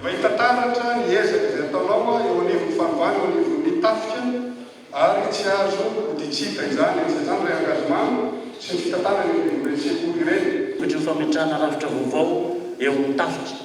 Efa hita taratra ny ezaka izay ataonao eo anivon'ny fanovana eo anivon'ny tafika ary tsy azo hoditsika izany etsy izany ry engagement sy ny fitantanana eo anivon'ireny sekoly ireny. Tojo fametrahana rafitra vaovao eo amin'ny tafika.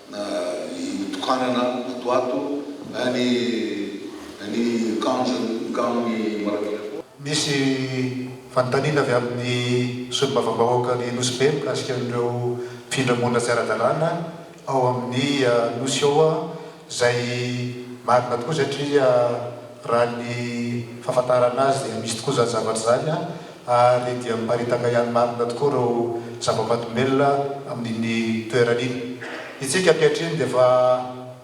na ny nitokanana ato ato, na ny ny kanjo mikamo ny Marabira. Misy fanontaniana avy amin'ny Solombavambahoaka ny Nosy Be mikasika an'ireo mpifindra monina tsy ara-dalàna ao amin'ny Nosy ao izay marina tokoa satria raha ny fahafantarana azy dia misy tokoa izany zavatra izany. ary dia miparitaka ihany marina tokoa ireo zava-mahadomelina amin'iny toerana iny. Isika ankehitriny dia efa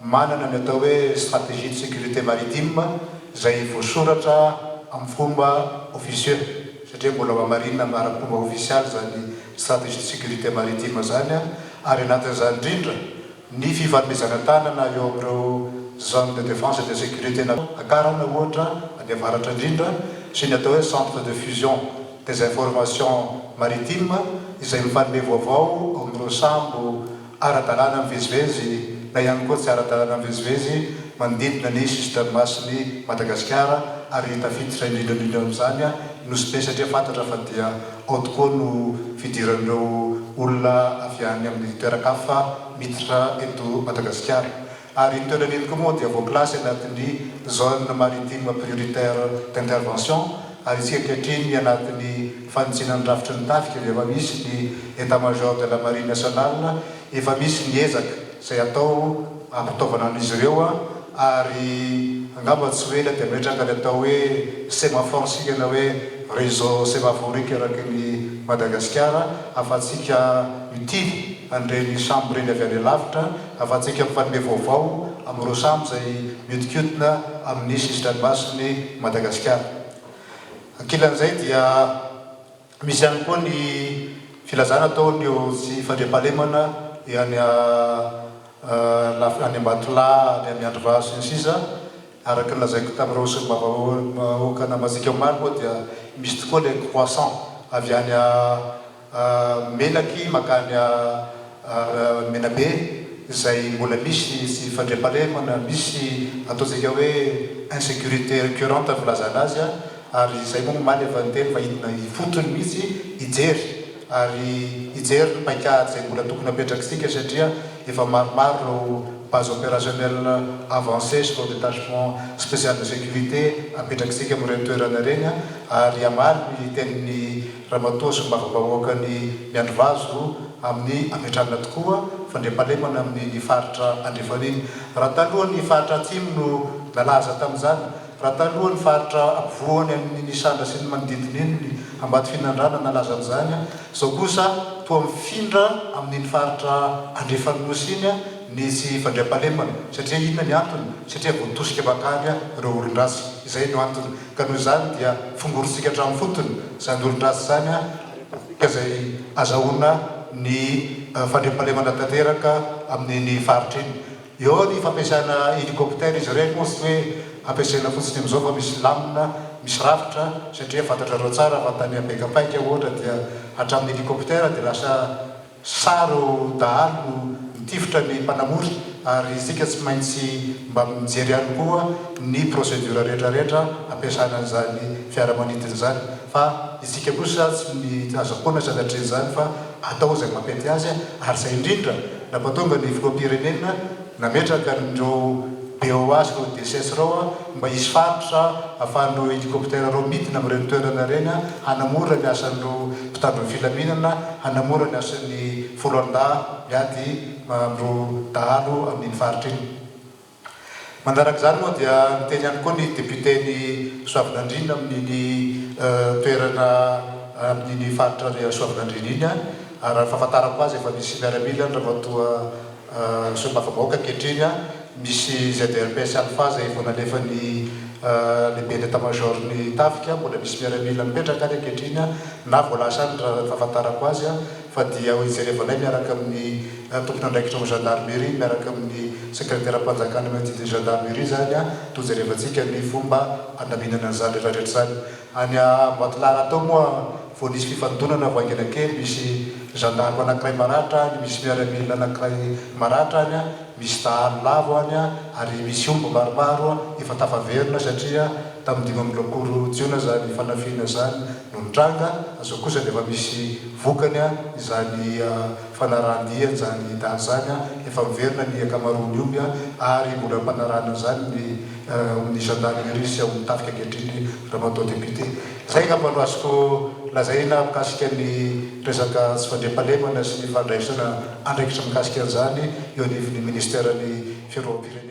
manana ny atao hoe stratégie de sécurité maritime izay voasoratra amin'ny fomba officieux, satria mbola hohamarinina amin'ny ara-pomba ofisialy izany stratégie de sécurité maritime izany, ary anatin'izany indrindra, Ny fifanomezana tanana eo amin'ireo Zones de Défense et de Sécurité na Akarana ohatra any avaratra indrindra sy ny atao hoe Centre de Fusion des Informations Maritimes izay mifanome vaovao ao amin'ireo sambo ara-dalàna mivezivezy na ihany koa tsy ara-dalàna mivezivezy manodidina ny sisin-dranomasin'i Madagasikara ary tafiditra indrindra indrindra amin'izany ny Nosy Be satria fantatra fa dia Ao tokoa no fidiran'ireo olona avy any amin'ny toeran-kafa miditra eto Madagasikara. Ary iny toerana iny koa moa dia voakilasy anatin'ny Zone Maritime Prioritaire d'Intervention ary isika ankehitriny anatin'ny fanitsiana ny rafitry ny tafika dia efa misy ny Etat-Major de la Marine Nationale Efa misy ny ezaka izay atao hampitaovana an'izy ireo ary angamba tsy ho ela dia hametraka ny atao hoe semaphore isika na hoe réseau sémaphorique eraky ny Madagasikara ahafahantsika mitily an'ireny sambo ireny avy any alavitra, ahafahantsika mifanome vaovao amin'ireo sambo izay mihodinkodina amin'ny sisin-dranomasin'i Madagasikara. Ankilan'izay dia. Misy ihany koa ny filazana ataon'ireo tsy fandriampahalemana any any Ambatolahy, any Miandrivazo sy ny sisa Araka ny lazaiko tamin'ireo solombavambahoaka namantsika omaly moa dia misy tokoa ilay croissant avy any Melaky mankany Menabe izay mbola misy tsy fandriampahalemana, misy ataontsika hoe insécurité récurrente ny filazana azy Ary izay moa omaly efa niteny fa hidina ifotony mihitsy hijery ary hijery ny paikady izay mbola tokony hapetraksika satria efa maromaro ireo base opérationnelle avancée sy ireo détachement spécial de sécurité apetrakisika amin'ireny toerana ireny ary hamaly ny tenin'ny ramatoa solombavambahoakan'i Miandrivazo amin'ny hametrahana tokoa fandriampahalemana amin'ny ny faritra andrefan'iny raha taloha ny faritra atsimo no nalaza tamin'izany Raha taloha ny faritra ampovoany amin' iny Isandra sy ny manodidina iny ny Ambatofinandrana nalaza an' izany, izao kosa toa mifindra amin' iny faritra andrefan' Nosy iny ny tsy fandriampahalemana. Satria inona ny antony? Satria voatosika bakany ireo olon-dratsy. Izay no antony. Ka noho izany dia fongorintsika hatramin'ny fotony izany olon-dratsy izany ka izay ahazahoana ny fandriampahalemana tanteraka amin' iny faritra iny. Eo ny fampiasana hélicoptère izy ireny moa tsy hoe ampiasaina fotsiny amin'izao fa misy lamina misy rafitra satria fantatrareo tsara fa tany Bekapaiky aho ohatra dia hatramin'ny hélicoptère dia lasa saro dahalo no mitifitra ny mpanamory ary isika tsy maintsy mba mijery ihany koa ny procédure rehetra rehetra hampiasana an'izany fiaramanidina izany fa isika kosa tsy aza foana sanatria izany fa atao izay mampety azy ary izay indrindra Nampatonga ny filoham-pirenena nametraka an'ireo BOA sy ireo DCS ireo mba hisy faritra ahafahan'ireo hélicoptère ireo midina amin'ireny toerana ireny hanamora ny asan'ireo mpitandro ny filaminana, hanamora ny asan'ny foloalindahy miady amin'ireo dahalo amin'iny faritra iny. Manaraka izany moa dia niteny ihany koa ny depioten'i Soavinandriana amin'iny toerana amin'iny faritra Reha Soavinandriana iny ary raha ny fahafantarako azy efa misy miaramila ny ramatoa solombavambahoaka ankehitriny, misy ZRPS Alpha izay vao nalefan'ny lehiben'ny état major ny tafika, mbola misy miaramila mipetraka ary ankehitriny na vao lasa any raha ny fahafantarako azy. fa dia hojerevanay miaraka amin'ny tompon'andraikitra ao amin'ny gendarmerie miaraka amin'ny sekreteram-panjakana eo amin'ny didin'ny gendarmerie izany an, dia hojerevantsika ny fomba handaminana an'izany rehetra rehetra izany. Any Ambatolahy rahateo moa vao nisy fifandonana vao haingana kely, misy gendarme anankiray maratra any, misy miaramila anankiray maratra any, misy dahalo lavo any ary misy omby maromaro efa tafaverina satria tamin'ny dimy amby roapolo jiona izany fanafihana izany. no nitranga, zao kosa dia efa misy vokany izany fanarahan-dia an'izany daty izany, efa miverina ny ankamaroan'ny omby ary mbola ampanarahana an'izany ny ny zandarimeria sy ao amin'ny tafika ankehitriny Ramatoa Député. Izay angamba no azoko lazaina mikasika ny resaka tsy fandriampahalemana sy ny fandraisana andraikitra mikasika an'izany eo anivon'ny Ministeran'ny Fiarovam-pirenena.